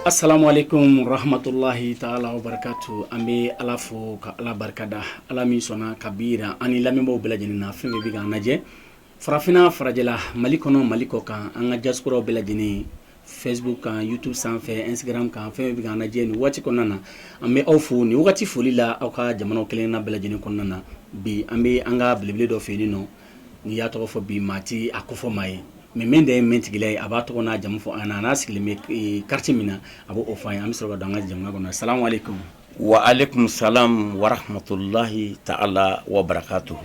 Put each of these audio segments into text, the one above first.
Assalamu alaikum rahmatullahi taala wa barakatu an bɛ ala fo ka ala barikada ala min sɔnna ka bi jira an ni lamɛnbaaw bɛɛ lajɛlen na fɛn fɛn bɛ k'an lajɛ farafinna farajɛla mali kɔnɔ mali kɔ kan an ka diasporaw bɛɛ lajɛlen Facebook kan YouTube sanfɛ Instagram kan fɛn fɛn bɛ k'an lajɛ nin waati kɔnɔna na an bɛ aw fo nin wagati foli la aw ka jamanaw kelen na bɛɛ lajɛlen kɔnɔna na bi an bɛ an ka belebele dɔ fɛ nin nɔ n'i y'a tɔgɔ fɔ bi maa tɛ a kofɔ maa ye mais min de ye mɛntigila ye a b'a tɔgɔ n'a jamu fɔ an ɲɛna an'a sigilen bɛ quartier min na a b'o fɔ an ye an bɛ sɔrɔ ka don an ka jɛmukan kɔnɔ salamu alaikum Wa alaikum salam wa rahmatullahi taala wa barakatu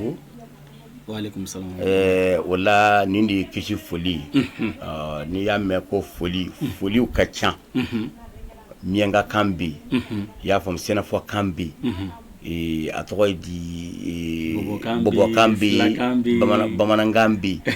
wala nin de ye kisi foli n'i y'a mɛn ko foli foli ka ca miyanka kan bɛ yen i y'a faamu senufɔ kan bɛ yen a tɔgɔ ye di bɔbɔkan bɛ yen bamanankan bɛ yen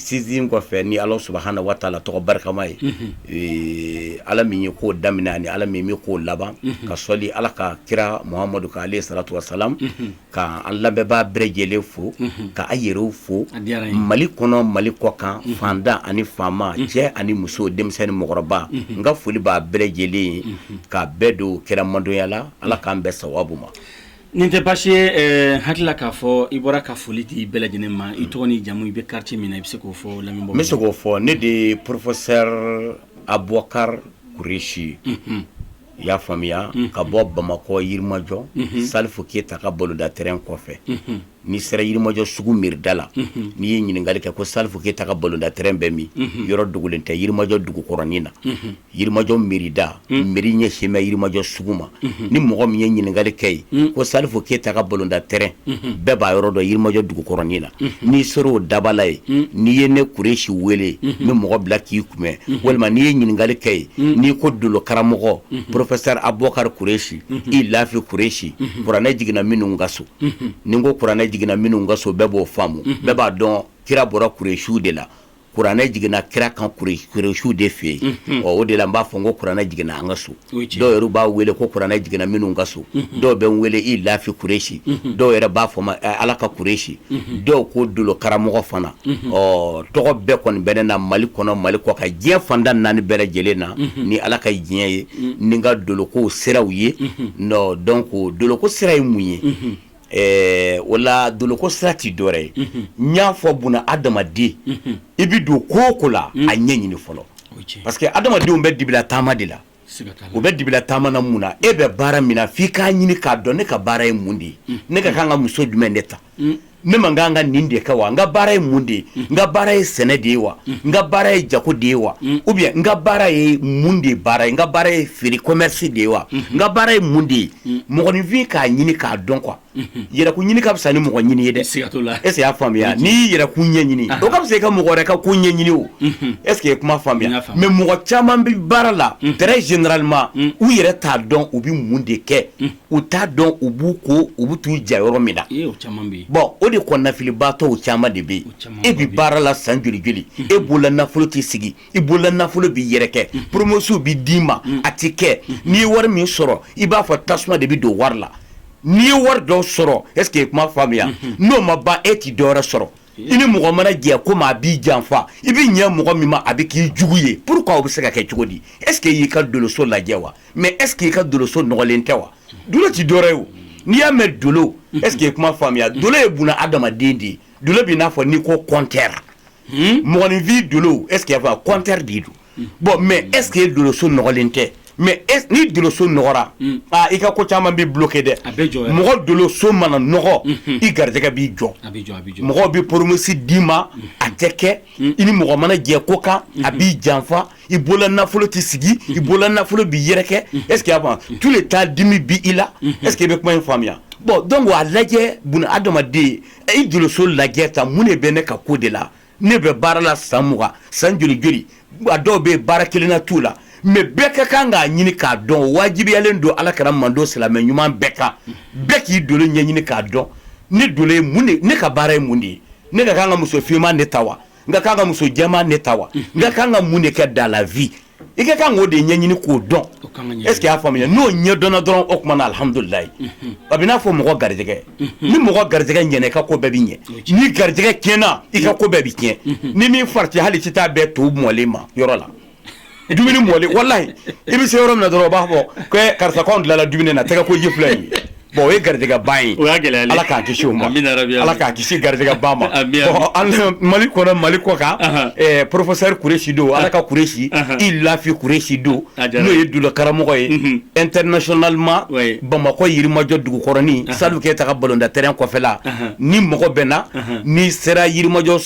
sinsin kɔfɛ ni ala subhanahu wa taala tɔgɔ barikama ye ala min ye ko daminɛ ani ala min bɛ ko laban ka sɔli ala ka kira muhamadu kan alayhi salatu wassalam ka an lamɛnbaa bɛɛ lajɛlen fo ka a yɛrɛw fo mali kɔnɔ mali kɔ kan faantan ani faama cɛ ani muso denmisɛnnin ni mɔgɔkɔrɔba n ka foli b'a bɛɛ lajɛlen ye ka bɛɛ don kira mantɔnya la ala k'an bɛn sawabu ma Nin tɛ baasi ye hakili la k'a fɔ i bɔra ka foli di bɛɛ lajɛlen ma i tɔgɔ ni jamu i bɛ quartier min na i bɛ se k'o fɔ lamɛnbaaw n bɛ se k'o fɔ ne de ye professeur abubakari kuresi i y'a faamuya ka bɔ bamakɔ yirimajɔ salifu keyita ka balɔntan terrain kɔfɛ n'i sera yirimajɔ sugu mairie da la n'i ye ɲininkali kɛ ko salifu keyita ka balɔntan terrain bɛ min yɔrɔ dogolen tɛ yirimajɔ dugukɔrɔnin na yirimajɔ mairie da mairie ɲɛsinnen bɛ yirimajɔ sugu ma ni mɔgɔ min ye ɲininkali kɛ ye ko salifu keyita ka balɔntan terrain bɛɛ b'a yɔrɔ dɔn yirimajɔ dugukɔrɔnin na n'i sera o dabala ye n'i ye ne kuresi wele n bɛ mɔgɔ bila k'i kunbɛn walima n'i ye ɲininkali kɛ ye n'i ko dolo karamɔgɔ professeur abubakari kuresi ilafi kuresi kuranɛ jiginna minnu ka so ni ko kuranɛ jiginna minnu ka so bɛɛ b'o faamu bɛɛ b'a dɔn kira bɔra kuresiw de la kuranɛ jiginna kira kan kuresiw de fɛ yen o de la n b'a fɔ n ko kuranɛ jiginna an ka so dɔw yɛrɛ b'a wele ko kuranɛ jiginna minnu ka so dɔw bɛ n wele ilafi kuresi dɔw yɛrɛ b'a fɔ n ma ala ka kuresi dɔw ko dolo karamɔgɔ fana o tɔgɔ bɛɛ kɔni bɛ ne na mali kɔnɔ mali kɔkan diɲɛ fan naani bɛɛ lajɛlen na ni ala ka diɲɛ ye ni n ka doloko siraw ye donc doloko sira ye mun ye ɛɛ o la doloko sira tɛ dɔwɛrɛ ye n y'a fɔ buna adamaden i bɛ don ko o ko la a ɲɛ ɲini fɔlɔ parce que adamadenw bɛ dibila taama de la u bɛ dibila taama na mun na e bɛ baara min na f'i k'a ɲini k'a dɔn ne ka baara ye mun de ye ne ka kan ka muso jumɛn de ta ne man kan ka nin de kɛ wa n ka baara ye mun de ye n ka baara ye sɛnɛ de ye wa n ka baara ye jago de ye wa ou bien n ka baara ye mun de baara ye n ka baara ye feere commerce de ye wa n ka baara ye mun de ye mɔgɔninfin k'a ɲini k'a dɔn quoi yɛrɛkun ɲini ka fisa ni mɔgɔ ɲini ye dɛ c'est obligatoire est-ce que y'a faamuya n'i y'i yɛrɛkun ɲɛ ɲini o ka fisa i ka mɔgɔ wɛrɛ ka ko ɲɛ ɲini o est-ce que i ye kuma faamuya mais mɔgɔ caman bɛ baara la très généralement u yɛrɛ t'a dɔn u bɛ mun de kɛ u t'a dɔn u b'u ko u bɛ t'u ja yɔrɔ min na bon o de kɔnɔnafilibaatɔ caman de bɛ yen e bɛ baara la san joli joli e bolola nafolo tɛ sigi i bolola nafolo bɛ yɛrɛkɛ promesse bɛ d'i ma a tɛ kɛ n'i ye wari min sɔrɔ i b'a fɔ tasuma de bɛ don wari la n'i ye wari dɔ sɔrɔ est-ce que i ye kuma faamuya n'o ma ban e tɛ dɔwɛrɛ sɔrɔ i ni mɔgɔ mana jɛ ko ma a b'i janfa i bɛ ɲɛ mɔgɔ min ma a bɛ k'i jugu ye pourquoi o bɛ se ka kɛ cogo di est-ce que i y'i ka doloso lajɛ wa mais est-ce que i ka doloso nɔgɔlen tɛ wa dolo tɛ dɔwɛrɛ ye n'i y'a mɛn dolo est-ce que i ye kuma faamuya dolo ye buna adamaden de ye dolo b'i n'a fɔ n'i ko compteur mɔgɔninfin dolo est-ce que y'a faamu compteur de don bon mais est-ce que i doloso nɔgɔlen tɛ mais ni doloso nɔgɔra i ka ko caman bɛ bloqué dɛ mɔgɔ doloso mana nɔgɔ i garijɛgɛ b'i jɔ mɔgɔw bɛ promesse d'i ma a tɛ kɛ i ni mɔgɔ mana jɛ ko kan a b'i janfa i bolola nafolo tɛ sigi i bolola nafolo bɛ yɛrɛkɛ est-ce que y'a faamu tout le temps dimi b'i la est-ce que i bɛ kuma in faamuya bon donc a lajɛ buna adamaden i doloso lajɛ ta mun de bɛ ne ka ko de la ne bɛ baara la san mugan san joli joli a dɔw bɛ baara kelen na t'u la mais bɛɛ ka kan k'a ɲini k'a dɔn wajibiyalen don ala kira mantɔn silamɛ ɲuman bɛɛ kan bɛɛ k'i dolo ɲɛ ɲini k'a dɔn ne dolo ye mun ye ne ka baara ye mun de ye ne ka kan ka muso finman de ta wa n ka kan ka muso jɛman de ta wa n ka kan ka mun de kɛ dans la vie i ka kan k'o de ɲɛɲini k'o dɔn est-ce que y'a faamuya n'o ɲɛ dɔnna dɔrɔn o tuma na alihamudulilayi a b'i n'a fɔ mɔgɔ garijɛgɛ ni mɔgɔ garijɛgɛ ɲɛna i ka ko bɛɛ bɛ ɲɛ ni garijɛgɛ tiɲɛna i ka ko bɛɛ bɛ tiɲɛ ni min fari tɛ hali tɛ taa bɛn to mɔlen ma yɔrɔ la dumuni mɔlen walayi i bɛ se yɔrɔ min dɔrɔn o b'a fɔ karisa k'an tilala dumuni na tɛgɛkoji filɛ yen Bon o ye garijɛgɛ ba ye ala k'an kisi o ma ala k'an kisi garijɛgɛ ba ma bon mali kɔnɔ mali kɔkan professeur kuresi don ala ka kuresi i lafi kuresi don n'o ye dolo karamɔgɔ ye internationalement bamakɔ yirimajɔ dugukɔrɔnin salifu keyita ka balɔntan terrain kɔfɛla ni mɔgɔ bɛ na n'i sera yirimajɔ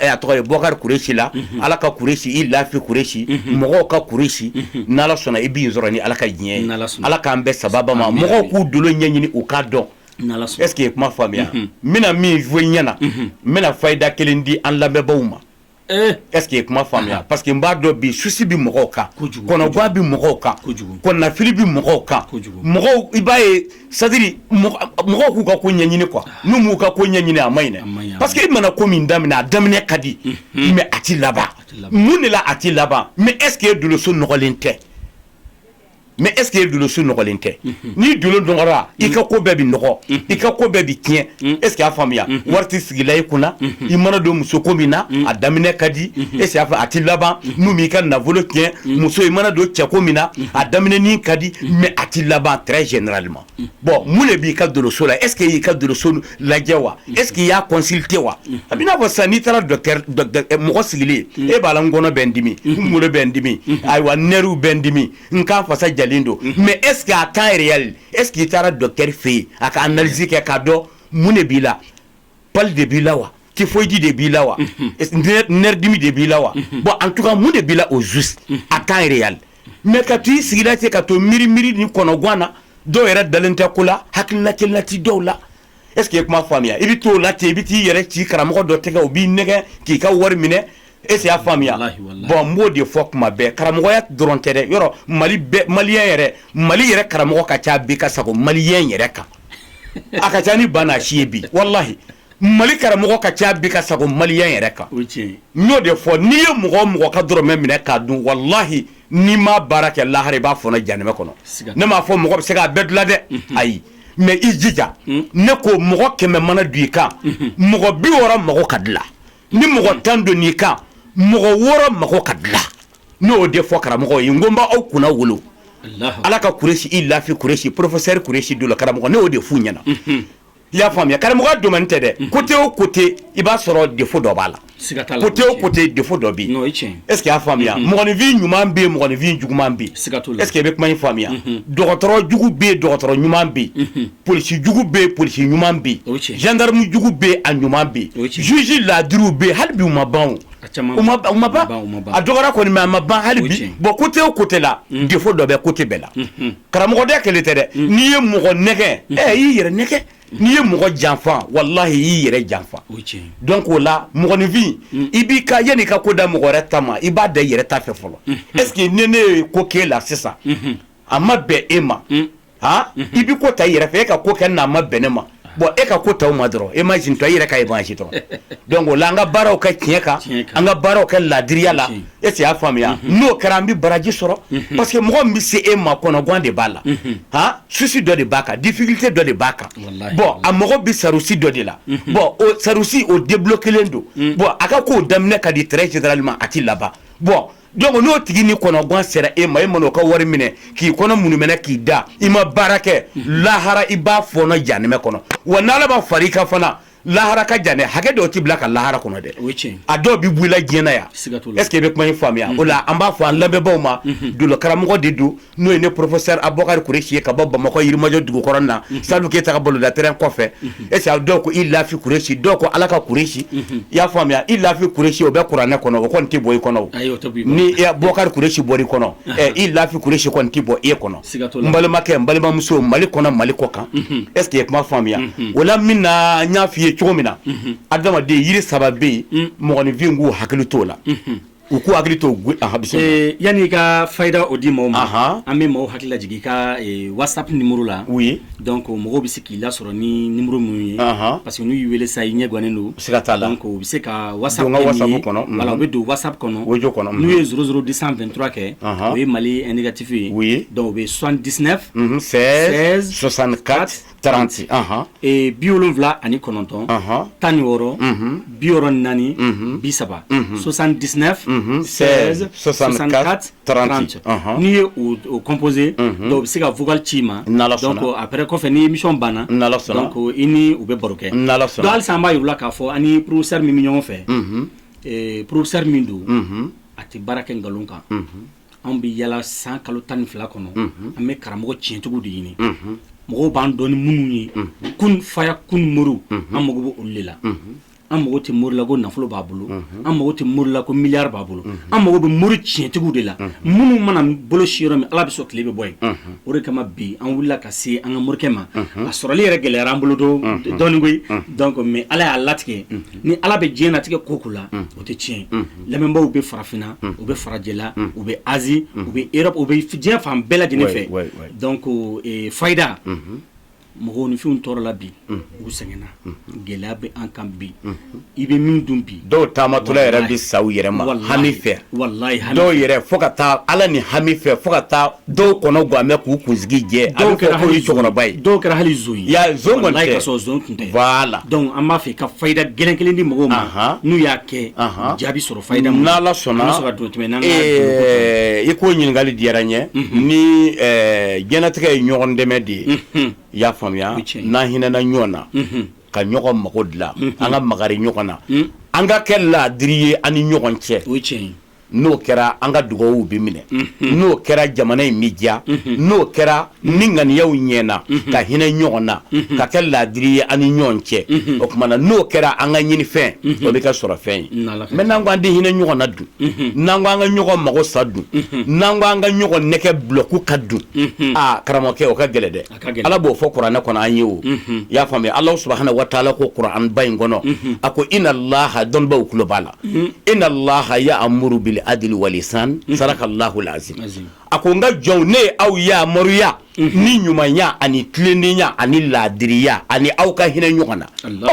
A tɔgɔ bukari kuresi la ala ka kuresi i lafi kuresi mɔgɔw ka kuresi ni ala sɔnna i bɛ n sɔrɔ ni ala ka diɲɛ ye ala k'an bɛn sababu ma mɔgɔw k'u dolo ɲɛɲini u k'a dɔn est ce que i ye kuma faamuya n bɛna min fɔ i ɲɛna n bɛna fayida kelen di an lamɛnbagaw ma est ce que i ye kuma faamuya parce que n b'a dɔn bi souci bɛ mɔgɔw kan kɔnɔguan bɛ mɔgɔw kan kɔnɔnafili bɛ mɔgɔw kan i b'a ye c'est-à-dire mɔgɔw k'u ka ko ɲɛɲini quoi n'u m'u ka ko ɲɛɲini a man ɲi dɛ parce que i mana ko min daminɛ a daminɛ ka di mais a tɛ laban mun de la a tɛ laban mais est ce que e doloso nɔgɔlen tɛ mais est ce que e doloso nɔgɔlen tɛ n'i dolo nɔgɔra i ka ko bɛɛ bɛ nɔgɔ i ka ko bɛɛ bɛ tiɲɛ est ce que y'a faamuya wari tɛ sigila i kunna i mana don muso ko min na a daminɛ ka di est ce que y'a fɔ a tɛ laban n'u m'i ka nafolo tiɲɛ muso i mana don cɛko min na a daminɛ ka di mais a tɛ laban très généralement bon mun de b'i ka doloso la est ce que i y'i ka doloso lajɛ wa est ce que i y'a consulté wa a b'i n'a fɔ sisan n'i taara mɔgɔ sigilen e b'a la n kɔnɔ bɛ n dimi n kunkolo bɛ n dimi ayiwa nɛriw bɛ n dimi n kan fasa jalen don mais est ce que à temps réel est ce que i taara docteur fɛ yen a ka analyse kɛ k'a dɔn mun de b'i la pali de b'i la wa typhoïde de b'i la wa nɛridimi de b'i la wa bon en tout cas mun de b'i la au juste à temps réel mais ka to i sigila ten ka to miiri miiri ni kɔnɔguan na dɔw yɛrɛ dalen tɛ ko la hakilina kelenna ti dɔw la est ce que i kuma faamuya i bɛ t'o la ten i bɛ t'i yɛrɛ ci karamɔgɔ dɔ tɛgɛ o b'i nɛgɛn k'i ka wari minɛ Est ce que y'a faamuya bon n b'o de fɔ kuma bɛɛ karamɔgɔya dɔrɔn tɛ dɛ yɔrɔ mali bɛɛ maliyɛn yɛrɛ mali yɛrɛ karamɔgɔ ka ca bi ka sago maliyɛn yɛrɛ kan a ka ca ni bana si ye bi walahi mali karamɔgɔ ka ca bi ka sago maliyɛn yɛrɛ kan n y'o de fɔ n'i ye mɔgɔ o mɔgɔ ka dɔrɔmɛ minɛ k'a dun walahi n'i ma baara kɛ lahara i b'a fɔɔnɔ janɛmɛ kɔnɔ ne m'a fɔ mɔgɔ bɛ se k'a bɛɛ dilan dɛ ayi mais i jija ne ko mɔgɔ kɛmɛ mana don i kan mɔgɔ bi wɔɔrɔ mago ka dilan ni mɔgɔ tan donna i kan mɔgɔ wɔɔrɔ mago ka dilan n y'o de fɔ karamɔgɔ ye n ko n b'aw kunnawolo ala ka kuresi i lafi kuresi professeur kuresi dolo karamɔgɔ ne y'o de f'u ɲɛna i y'a faamuya karamɔgɔya domaine tɛ dɛ côté o côté i b'a sɔrɔ défaut dɔ b'a la côté o côté défaut dɔ bɛ yen est ce que y'a faamuya mɔgɔninfin ɲuman bɛ yen mɔgɔninfin juguman bɛ yen est ce que i bɛ kuma in faamuya dɔgɔtɔrɔ jugu bɛ yen dɔgɔtɔrɔ ɲuman bɛ polisi jugu bɛ polisi ɲuman bɛ gendarme jugu bɛ a ɲuman bɛ juge ladiriw bɛ hali bi u ma ban u ma ban a dɔgɔra kɔni mais a ma ban hali bi bon kote o kote la defo dɔ bɛ kote bɛɛ la karamɔgɔda kelen tɛ dɛ n'i ye mɔgɔ nɛgɛ i y'i yɛrɛ nɛgɛ n'i ye mɔgɔ janfa walahi i y'i yɛrɛ janfa donc o la mɔgɔninfin i b'i ka yanni i ka ko da mɔgɔ wɛrɛ ta ma i b'a da i yɛrɛ ta fɛ fɔlɔ eseke ni ne ye ko k'e la sisan a ma bɛn e ma i bɛ ko ta i yɛrɛ fɛ e ka ko kɛ n'a ma bɛn ne ma bon e ka ko ta ma dɔrɔn imagine toi i yɛrɛ ka imagine dɔrɔn donc o la an ka baaraw kɛ tiɲɛ kan an ka baaraw kɛ laadiriya la eseke i y'a faamuya n'o kɛra an bɛ baraji sɔrɔ parce que mɔgɔ min bɛ se e ma kɔnɔgan de b'a la souci dɔ de b'a kan difficulté dɔ de b'a kan bon a mago bɛ sarusi dɔ de la bon o sarusi o de bloquelen don bon a ka ko daminɛ ka di très généralement a tɛ laban bon Donc n'o tigi ni kɔnɔguwan sera e ma e mana o ka wari minɛ k'i kɔnɔ munumɛnɛ k'i da i ma baara kɛ lahara i b'a fɔɔnɔ jahanamɛ kɔnɔ wa ni ala ma fara i kan fana lahara ka jan dɛ hakɛ dɔw tɛ bila ka lahara kɔnɔ dɛ a dɔw bɛ bɔ i la diɲɛ na yan ɛseke i bɛ kuma in faamuya o la an b'a fɔ an lamɛnbagaw ma dolo karamɔgɔ de don n'o ye ne professeur abubakari kuresi ye ka bɔ bamakɔ yirimajɔ dugukɔrɔ na salifu keyita ka balɔntan terrain kɔfɛ eseke dɔw ko i lafi kuresi dɔw ko ala ka kuresi i y'a faamuya i lafi kuresi o bɛ kuranɛ kɔnɔ o tɛ bɔ i kɔnɔ ni bɔkari kuresi bɔr'i kɔnɔ i lafi kuresi tɛ bɔ e kɔnɔ n balimakɛ n balimamuso mali kɔnɔ mali kɔkan eseke i ye kuma faamuya o la min na n y'a fɔ i ye cogo min na adamaden yiri saba bɛ yen mɔgɔninfin k'u hakili t'o la U ko hakili to yanani i ka fa da o di maaw ma an bɛ maaw hakili laj i ka waasa ni muru la u ye dɔn ko mɔgɔw bɛ se k'i lasɔrɔ ni ni muru minnu ye parce que n'u y' weele sa i ɲɛ gannen don se ka taa la ko u bɛ se ka waasa kɔnɔ u bɛ don waasa kɔnɔ o jɔ kɔnɔ n'u ye ssouru disanfɛntura kɛ u ye mali nɛgɛgatifu ye u ye dɔw bɛ sɔn dis fɛ sɔsan ka taranti ee bi wolonwula ani kɔnɔntɔn tan ni wɔɔrɔ bi wɔɔrɔ naani bi saba sosan disina sɔsan taranti n'i ye o kɔnpse dɔw bɛ se ka fugka ci ma ko a bɛ kɔfɛ ni misi banna ko i ni u bɛ baro kɛ hali b'a wula k'a fɔ ani pururosɛri min bɛ ɲɔgɔn fɛ pururosɛri min don a tɛ baara kɛ nkalon kan anw bɛ yala san kalo tan ni fila kɔnɔ an bɛ karamɔgɔ tiɲɛtigiw de ɲini mɔgɔw b'an dɔn ni minnu ye kun fayakun moriw an mago bɛ olu de la an mago tɛ mori la ko nafolo b'a bolo an mago tɛ mori la ko miliyari b'a bolo an mago bɛ mori tiɲɛtigiw de la minnu mana bolo si yɔrɔ min ala bɛ sɔn tile bɛ bɔ yen o de kama bi an wulila ka se an ka morikɛ ma a sɔrɔli yɛrɛ gɛlɛyara an bolo dɔɔnin koyi donc mais ala y'a latigɛ ni ala bɛ diɲɛ latigɛ ko o ko la o tɛ tiɲɛ lamɛnbaw bɛ farafinna u bɛ farajɛla u bɛ Asie u bɛ Europe u bɛ diɲɛ fan bɛɛ lajɛlen fɛ donc fayida mɔgɔninfinw tɔɔrɔla bi u sɛgɛnna gɛlɛya bɛ an kan bi i bɛ min dun bi dɔw taamatɔla yɛrɛ bɛ sa u yɛrɛ ma hami fɛ wala dɔw yɛrɛ fo ka taa ala ni hami fɛ fo ka taa Dɔw kɔnɔ gan bɛ k'u kunsigi jɛ dɔw kɛra hali cɛkɔrɔba ye dɔw kɛra hali voilà an b'a fɛ ka fayida gɛlɛn kelen di mɔgɔw ma n'u y'a kɛ jaabi sɔrɔ n'ala sɔnna don tɛm i k'o ɲininkali diyara n ye ni diɲɛnatigɛ ye ɲɔgɔn dɛmɛ de ye i y'a faamuya n'an hinɛna ɲɔgɔn na ka ɲɔgɔn mago dilan an ka makari ɲɔgɔn na an ka kɛ laadiri ye an ni ɲɔgɔn cɛ n'o kɛra an ka dugawuw bɛ minɛ n'o kɛra jamana in bɛ diya n'o kɛra ni ŋaniyaw ɲɛna ka hinɛ ɲɔgɔn na ka kɛ laadiri ye an ni ɲɔgɔn cɛ o tuma na n'o kɛra an ka ɲinifɛn o bɛ kɛ sɔrɔfɛn ye mais n'an ko an tɛ hinɛ ɲɔgɔn na dun n'an ko an ka ɲɔgɔn mago sa dun n'an ko an ka ɲɔgɔn nɛgɛ bulɔku ka dun aa karamɔgɔkɛ o ka gɛlɛn dɛ ala b'o fɔ kuranɛ kɔnɔ an ye o y'a faamuya ala subhanahu wa taala ko kuranɛba in kɔnɔ a ko inna allaha dɔnnibaw tulo b'a la inna allaha ya'muru bil adli wal ihsan sadakallahu l'azim a ko n ka jɔnw ne aw yamaruya ni ɲumanya ani tilennenya ani laadiriya ani aw ka hinɛ ɲɔgɔn na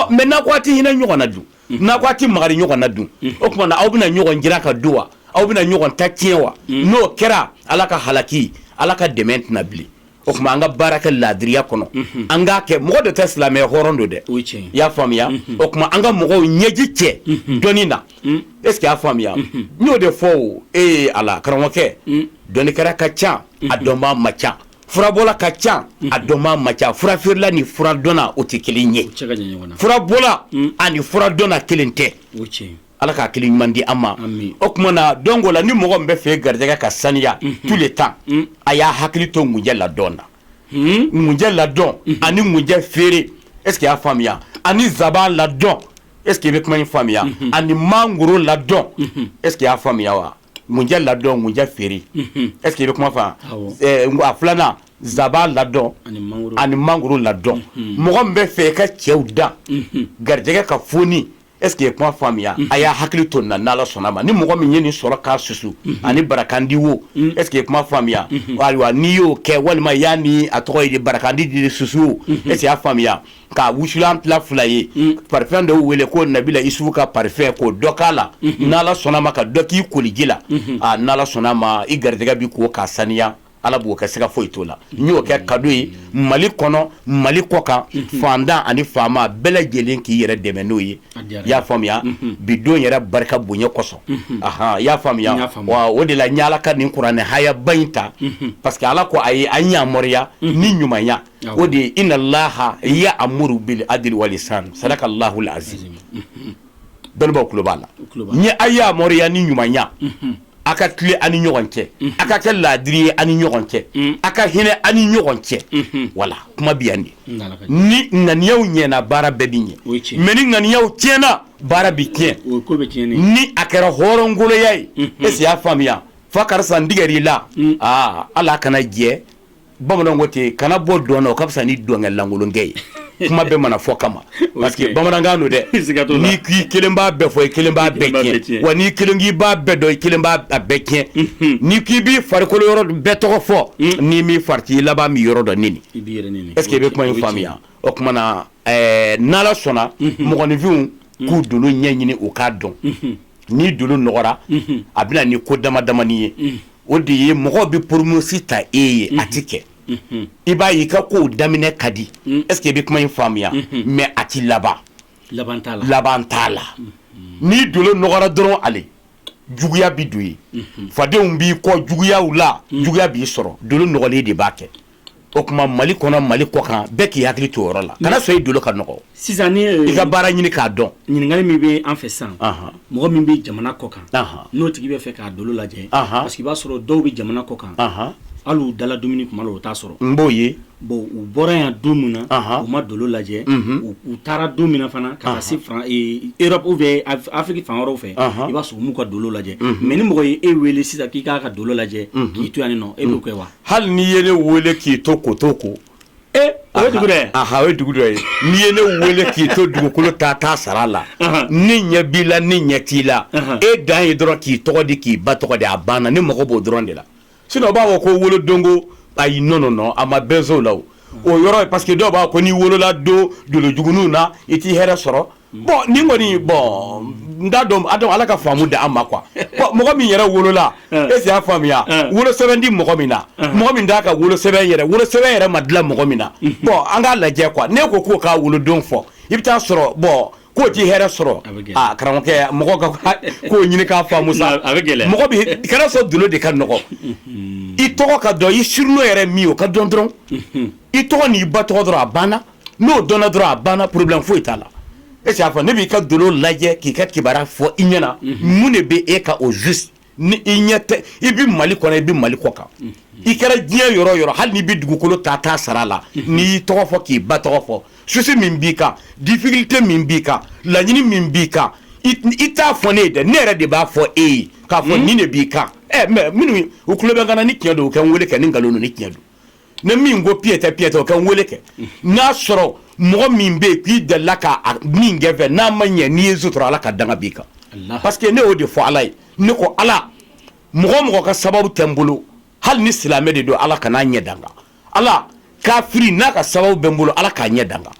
mais n'a ko a tɛ hinɛ ɲɔgɔn na dun n'a ko a tɛ makari ɲɔgɔn na dun o tuma aw bɛna ɲɔgɔn jiran ka dun wa aw bɛna ɲɔgɔn ta tiɲɛ wa n'o kɛra ala ka halaki ala ka dɛmɛ tɛ na bilen o tuma an ka baara kɛ laadiriya kɔnɔ an k'a kɛ mɔgɔ de tɛ silamɛ hɔrɔn don dɛ i y'a faamuya o tuma an ka mɔgɔw ɲɛji cɛ dɔnni na est-ce que y'a faamuya n y'o de fɔ o ee ala karamɔgɔkɛ dɔnnikɛla ka ca a dɔnba ma ca furabɔla ka ca a dɔnba ma ca furafeerela ni furadɔnna o tɛ kelen ye furabɔla ani furadɔnna kelen tɛ Ala ka hakili ɲuman di an ma o tuma na donc o la ni mɔgɔ min b'a fɛ garijɛgɛ ka saniya tout le temps a y'a hakili to ŋunjɛ ladɔn na ŋunjɛ ladɔn ani ŋunjɛ feere est-ce que y'a faamuya ani nsaban ladɔn est-ce que i bɛ kuma in faamuya ani mangoro ladɔn est-ce que y'a faamuya wa ŋunjɛ ladɔn ŋunjɛ feere est-ce que i bɛ kuma faamu a filanan nsaban ladɔn ani mangoro ladɔn mɔgɔ min b'a fɛ i ka cɛw dan garijɛgɛ ka foni Est-ce que ye kuma faamuya a y'a hakili to na n'ala sɔnna ma ni mɔgɔ min ye nin sɔrɔ k'a susu ani barakandi wo est-ce que ye kuma faamuya ayiwa n'i y'o kɛ walima y'a ni a tɔgɔ ye barakandi di susu wo est-ce que y'a faamuya k'a wusulan tila fila ye parfum dɔw wele ko nabila isufu ka parfum k'o dɔ k'a la n'ala sɔnna ma ka dɔ k'i koliji la n'ala sɔnna a ma i garijɛgɛ bɛ ko k'a saniya ala b'o kɛ siga foyi t'o la n y'o kɛ cadeau ye mali kɔnɔ mali kɔ kan fantan ani faama bɛɛ lajɛlen k'i yɛrɛ dɛmɛ n'o ye i y'a faamuya bi don yɛrɛ barika bonya kosɔn ahan i y'a faamuya wa o de la n y'ala ka nin kuranɛ hayaba in ta parce que ala ko a ye an yamaruya ni ɲumanya o de ye inna allaha ya'muru bil adli wal ihsan sadakallahul azim dɔnnibaw kulo b'a la a yamaruya ni ɲumanya a ka tile ani ɲɔgɔn cɛ a ka kɛ laadiri ye ani ɲɔgɔn cɛ a ka hinɛ ani ɲɔgɔn cɛ wala kuma bi yan de ni ŋaniyaw ɲɛna baara bɛɛ bɛ ɲɛ mais ni ŋaniyaw tiɲɛna baara bɛ tiɲɛ ni a kɛra hɔrɔnkoloya ye est ce que i y'a faamuya fa karisa n tigɛr'i la aa ala kana jɛ bamananw ko ten kana bɔ dɔn na o ka fisa ni dɔnkɛlankolonkɛ ye kuma bɛɛ ma na fɔ kama parce que bamanankan don dɛ n'i k'i kelen b'a bɛɛ fɔ i kelen b'a bɛɛ tiɲɛ. wa n'i kelen k'i b'a bɛɛ dɔn i kelen b'a bɛɛ tiɲɛ n'i k'i b'i farikolo yɔrɔ bɛɛ tɔgɔ fɔ n'i m'i farati i laban b'i yɔrɔ dɔ nɛni. est ce que i bɛ kuma in faamuya o tuma na ɛɛ n'ala sɔnna mɔgɔninfinw k'u dolo ɲɛɲini u k'a dɔn n'i dolo nɔgɔra a bɛ na ni ko dama damani ye o de ye mɔgɔw bɛ promesse ta e ye a tɛ kɛ i b'a y'i ka kow daminɛ ka di est ce que i bɛ kuma in faamuya mais a tɛ laban laban t'a la n'i dolo nɔgɔra dɔrɔn ale juguya bɛ don ye fadenw b'i kɔ juguya la juguya b'i sɔrɔ dolo nɔgɔlen de b'a kɛ o kuma mali kɔnɔ mali kɔ kan bɛɛ k'i hakili to o yɔrɔ la kana sɔn i dolo ka nɔgɔ sisan i ka baara ɲini k'a dɔn ɲininkali min bɛ an fɛ sisan mɔgɔ min bɛ jamana kɔ kan n'o tigi bɛ fɛ k'a ka dolo lajɛ parce que i b'a sɔrɔ dɔw bɛ jamana kɔ kan hali u dala dumuni kuma la o t'a sɔrɔ n b'o ye bon u bɔra yan don min na u ma dolo lajɛ u taara don min na fana ka se Europe ou bien Afrique fan wɛrɛ fɛ i b'a sɔrɔ u m'u ka dolo lajɛ mais ni mɔgɔ ye e weele sisan k'i k'a ka dolo lajɛ k'i to yan nin nɔ e b'o kɛ wa hali n'i ye ne weele k'i to ko to ko ee o ye dugu dɛ aha o ye dugu dɔ ye n'i ye ne weele k'i to dugukolo taa taa sara la ni ɲɛ b'i la ni ɲɛ t'i la e dan ye dɔrɔn k'i tɔgɔ di k'i ba tɔgɔ di a banna ne mago b'o dɔrɔn de la sinon o b'a fɔ ko wolodonko ayi non non non a ma bɛn o la o o yɔrɔ ye parce que dɔw b'a fɔ ko n'i wolola don dolojuguninw na i t'i hɛrɛ sɔrɔ Bon nin kɔni bon n t'a dɔn ala ka faamu di an ma quoi bon mɔgɔ min yɛrɛ wolola est ce que i y'a faamuya wolo sɛbɛn tɛ mɔgɔ min na mɔgɔ min t'a ka wolo sɛbɛn yɛrɛ wolo sɛbɛn yɛrɛ ma dilan mɔgɔ min na bon an k'a lajɛ quoi ne ko k'o k'a wolodon fɔ i bɛ t'a sɔrɔ bon k'o tɛ hɛrɛ sɔrɔ karamɔgɔkɛ mɔgɔ ka ko ɲini k'a faamu kana sɔn dolo de ka nɔgɔ i tɔgɔ ka dɔn i surnom yɛrɛ min o ka dɔn dɔrɔn i tɔgɔ n'i ba tɔgɔ dɔrɔn a banna N'o dɔnna dɔrɔn a banna problème foyi t'a la e y'a fɔ ne b'i ka dolo lajɛ k'i ka kibaruya fɔ i ɲɛna mun de bɛ e kan au juste ni i ɲɛ tɛ i bɛ mali kɔnɔ i bɛ mali kɔ kan i kɛra diɲɛ yɔrɔ o yɔrɔ hali n'i bɛ dugukolo ta ta sara a la n'i y'i tɔgɔ fɔ k'i ba tɔgɔ fɔ souci min b'i kan difficulté min b'i kan laɲini min b'i kan i t'a fɔ ne ye ne yɛrɛ de b'a fɔ e ye k'a fɔ nin de b'i kan mais minnu u tulo bɛ n kan na ni cɛn don u kɛ n weele kɛ ni nkalon don ni cɛn don ne min ko piyetɛ piyetɛ o kɛ n wele kɛ n'a sɔrɔ mɔgɔ min bɛ yen k'i delila ka min kɛ n fɛ n'a ma ɲɛ n'i ye n sutura ala ka danga b'i kan parce que ne y'o de fɔ ala ye ne ko ala mɔgɔ o mɔgɔ ka sababu tɛ n bolo hali ni silamɛ de don ala kan'a ɲɛ da n kan ala kafiri n'a ka sababu bɛ n bolo ala k'a ɲɛ da n kan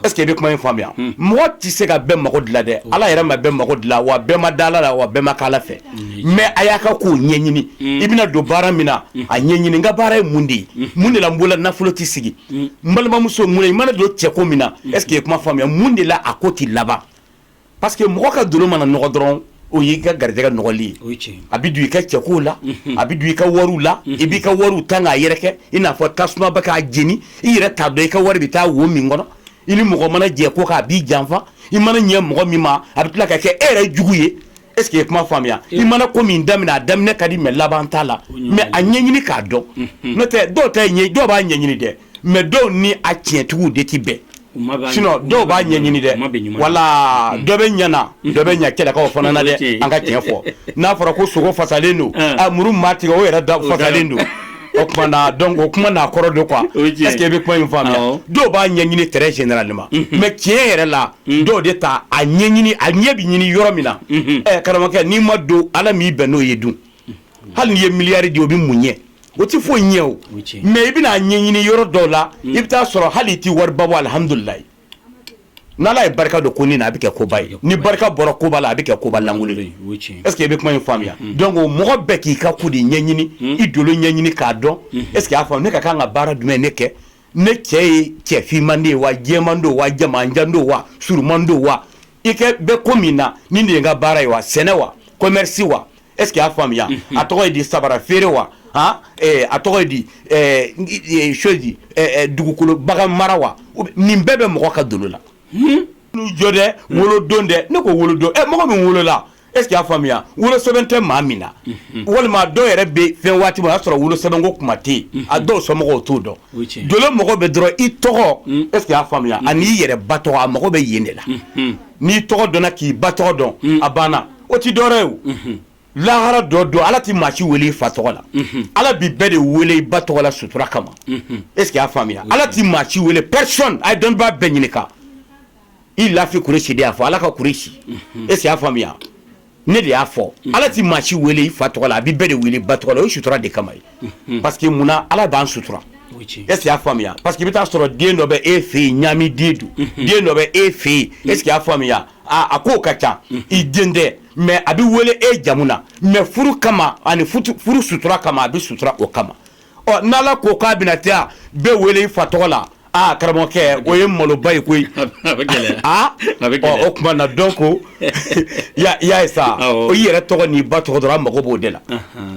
Est ce que i bɛ kuma in faamuya, unhun, mɔgɔ tɛ se ka bɛɛ mago dilan dɛ, Ala yɛrɛ ma bɛɛ mago dilan wa bɛɛ ma da Ala la wa bɛɛ ma kɛ Ala fɛ mais a y'a ka kow ɲɛɲini i bɛna don baara min na a ɲɛɲini n ka baara ye mun de ye mun de la n bolo la nafolo tɛ sigi n balimamuso mun na i mana don cɛko min na est ce que i ye kuma faamuya mun de la a ko tɛ laban Parce que mɔgɔ ka dolo mana nɔgɔ dɔrɔn o y'i ka garijɛgɛ nɔgɔli ye a bɛ don i ka cɛko la a bɛ don i ka wariw la i b'i ka wariw ta k'a yɛrɛ kɛ i n'a fɔ tasuma bɛ k'a jeni i yɛrɛ t'a dɔn i ka wari bɛ taa wo min kɔnɔ i ni mɔgɔ mana jɛ ko kan a b'i janfa i mana ɲɛ mɔgɔ min ma a bɛ tila ka kɛ e yɛrɛ jugu ye Est-ce que i ye kuma faamuya i mana ko min daminɛ a daminɛ ka di mais laban t'a la mais a ɲɛɲini k'a dɔn n'o tɛ dɔw ta ɲɛ dɔw b'a ɲɛɲini dɛ mais dɔw ni a tiɲɛtigiw de tɛ bɛn sinon dɔw b'a ɲɛɲini dɛ voilà dɔ bɛ ɲɛna dɔ bɛ ɲɛ kɛlɛkaw fana na dɛ an ka tiɲɛ fɔ n'a fɔra ko sogo fasalen don muru maa tigɛ o yɛrɛ da fasalen don donc o kuma n'a kɔrɔ don quoi est-ce que i bɛ kuma in faamuya dɔw b'a ɲɛɲini très généralement mais tiɲɛ yɛrɛ la dɔw de t'a ɲɛɲini a ɲɛ bɛ ɲini yɔrɔ min na karamɔgɔkɛ n'i ma don ala m'i bɛn n'o ye dun hali n'i ye miliyari di o bɛ mun ɲɛ o tɛ foyi ɲɛ o mais i bɛna a ɲɛɲini yɔrɔ dɔw la i bɛ taa a sɔrɔ hali i tɛ wariba bɔ alihamdulilayi n' ala ye barika don konin na a bɛ kɛ koba ye ni barika bɔra koba la a bɛ kɛ koba lankolon ye est-ce que i bɛ kuma in faamuya donc mɔgɔ bɛɛ k'i ka ko de ɲɛɲini i dolo ɲɛɲini k'a dɔn est-ce que y'a faamu ne ka kan ka baara jumɛn ne kɛ ne cɛ ye cɛ finman de ye wa jɛman don wa jamanjan don wa suruman don wa i kɛ bɛ ko min na nin de ye n ka baara ye wa sɛnɛ wa commerce wa est-ce que y'a faamuya a tɔgɔ ye di sabara feere wa a tɔgɔ ye di chose di dugukolo bagan mara wa nin bɛɛ bɛ mɔgɔ ka dolo la n'u jɔ dɛ wolo don dɛ ne ko wolo don mɔgɔ min wolola Est ce que y'a faamuya wolosɛbɛn tɛ maa min na walima dɔw yɛrɛ bɛ fɛn waati o y'a sɔrɔ wolosɛbɛn ko kuma tɛ a dɔw somɔgɔw t'o dɔn dolo mago bɛ dɔrɔn i tɔgɔ est ce que y'a faamuya ani i yɛrɛ ba tɔgɔ a mago bɛ yen de la n'i tɔgɔ dɔnna k'i ba tɔgɔ dɔn a banna o tɛ dɔwɛrɛ ye o lahara dɔ don ala tɛ maa si weele i fa tɔgɔ la ala bɛ bɛɛ de weele i ba tɔgɔ la sutura kama est ce que y'a faamuya ala tɛ maa si weele personne a ye dɔnnibaa bɛɛ ɲininka i lafi kuresi de y'a fɔ ala ka kuresi mhm. est ce que y'a faamuya ne de y'a fɔ mhm. ala tɛ maa si weele i fa tɔgɔ la a bɛ bɛɛ de weele i ba tɔgɔ la o sutura de kama ye mhm. parce que munna ala b'an sutura est ce que y'a faamuya parce que i bɛ taa sɔrɔ den dɔ bɛ e fɛ yen ɲaami den don den dɔ bɛ e fɛ yen est ce que y'a faamuya a ko ka ca i den tɛ mais a bɛ wele e jamu na mais furu kama ani furu sutura kama a bɛ sutura o kama ɔ n'ala ko k'a bɛna taa bɛɛ wele i fa tɔgɔ la aa karamɔgɔkɛ o ye maloba ye koyi aa o tuma na donc y'a ye sa o i yɛrɛ tɔgɔ n'i ba tɔgɔ dɔrɔn a mago b'o de la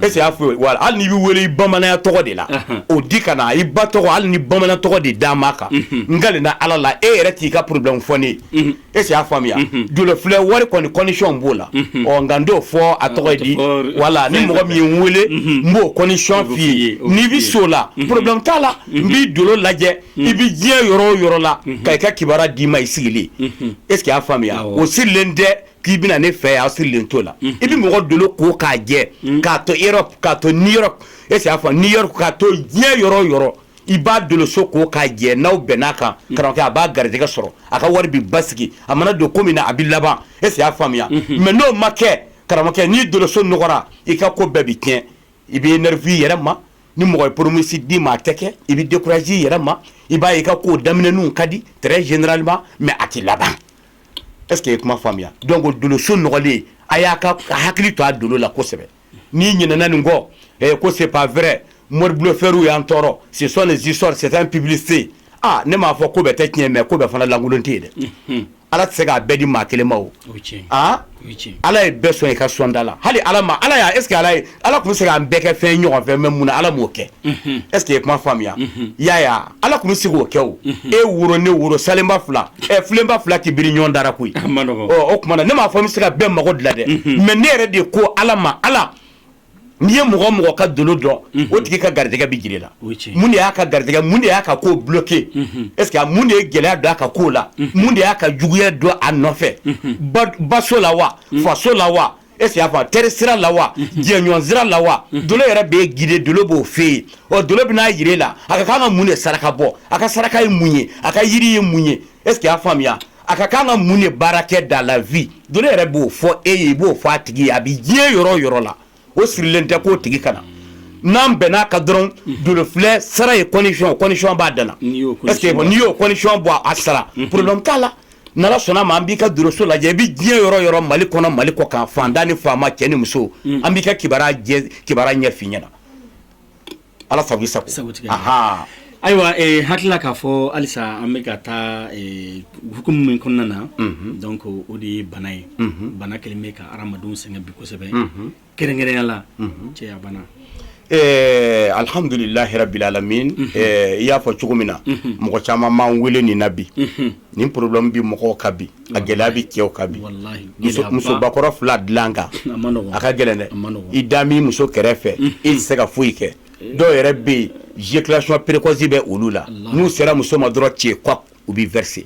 est ce que y'a faamu voilà hali n'i bɛ wele i bamananya tɔgɔ de la o di ka na i ba tɔgɔ hali ni bamanan tɔgɔ de d'a ma kan n kalenna ala la e yɛrɛ t'i ka problème fɔ n ye est ce que y'a faamuya dolofilɛ wari kɔni condition b'o la ɔ nka n t'o fɔ a tɔgɔ di voilà ni mɔgɔ min ye n weele n b'o condition f'i ye n'i bɛ s'o la problème t'a la n b'i dolo lajɛ i bɛ diɲɛ yɔrɔ o yɔrɔ la ka i ka kibaruya d'i ma i sigilen est ce que y'a faamuya o sirilen tɛ k'i bɛ na ne fɛ yan a sirilen t'o la i bɛ mɔgɔ dolo ko k'a jɛ k'a to Europe k'a to New York est ce que y'a faamu New York k'a to diɲɛ yɔrɔ o yɔrɔ i b'a doloso ko k'a jɛ n'aw bɛnn'a kan karamɔgɔkɛ a b'a garijɛgɛ sɔrɔ a ka wari bɛ basigi a mana don ko min na a bɛ laban est ce que y'a faamuya mais n'o ma kɛ karamɔgɔkɛ n'i doloso nɔgɔra i ka ko bɛɛ bɛ tiɲɛ i bɛ énervé i yɛrɛ ma ni mɔgɔ ye promesse d'i ma a tɛ kɛ i bɛ découragé i yɛrɛ ma i b'a ye i ka ko daminɛninw ka di très généralement mais a tɛ laban est ce que i ye kuma faamuya donc doloso nɔgɔlen a y'a ka hakili to a dolo la kosɛbɛ n'i ɲinɛna nin kɔ eh, ko c'est pas vrai mori blofɛriw y'an tɔɔrɔ ce sont les histoires c'est un publicité ah ne m'a fɔ ko bɛɛ tɛ tiɲɛ mais ko bɛɛ fana lankolon tɛ yen dɛ ala tɛ se k'a bɛɛ di maa kelen ma o ah ala ye bɛɛ sɔn i ka sɔnda la hali ala ma ala y'a est ce que ala ye ala tun bɛ se k'an bɛɛ kɛ fɛn ɲɔgɔn fɛ mais mun na ala m'o kɛ est ce que i ye kuma faamuya Yaya Ala tun bɛ se k'o kɛ o e woro ne woro salenba fila filenba fila tɛ biri ɲɔgɔn da ra koyi o tuma ne m'a fɔ n bɛ se ka bɛɛ mago dilan dɛ mais ne yɛrɛ de ko ala ma ala n'i ye mɔgɔ o mɔgɔ ka dolo dɔn o tigi ka garijɛgɛ bɛ jir'i la mun de y'a ka garijɛgɛ mun de y'a ka ko bloqué est ce que mun de ye gɛlɛya don a ka ko la mun de y'a ka juguya don a nɔfɛ baso la wa faso la wa Est-ce que y'a fɔ teri sira la wa jɛɲɔgɔn sira la wa dolo yɛrɛ b'e guider dolo b'o f'e ye ɔ dolo bɛn'a jira e la a ka kan ka mun de saraka bɔ a ka saraka ye mun ye a ka yiri ye mun ye est-ce que y'a faamuya a ka kan ka mun de baara kɛ dans la vie dolo yɛrɛ b'o fɔ e ye i b'o fɔ a tigi ye a bɛ diɲɛ yɔrɔ o yɔrɔ la o sirilen tɛ k'o tigi ka na n'an bɛn'a ka dɔrɔn dolo filɛ sara ye condition b'a da la n'i y'o condition bɔ a sara problème t'a la N'ala sɔnna ma an b'i ka doloso lajɛ i bɛ diɲɛ yɔrɔ o yɔrɔ mali kɔnɔ mali kɔkan faantan ni faama cɛ ni muso an b'i ka kiba kibaruya ɲɛf'i ɲɛna ala sago i sago ayiwa hakilila k'a fɔ halisa an bɛ ka taa hukumu min kɔnɔna na donc o de ye bana ye bana kelen bɛ ka hadamadenw sɛgɛn bi kosɛbɛ kɛrɛnkɛrɛnya la cɛyabana ɛɛ alihamdulilahi rabili alamina i y'a fɔ cogo min na mɔgɔ caman b'an wele nin na bi nin problème bɛ mɔgɔw kan bi a gɛlɛya bɛ cɛw kan bi musobakɔrɔ fila dilan kan a ka gɛlɛn dɛ i da min muso kɛrɛfɛ i tɛ se ka foyi kɛ dɔw yɛrɛ bɛ yen éjaculation précoce bɛ olu la n'u sera muso ma dɔrɔn cɛ kɔ u bɛ verser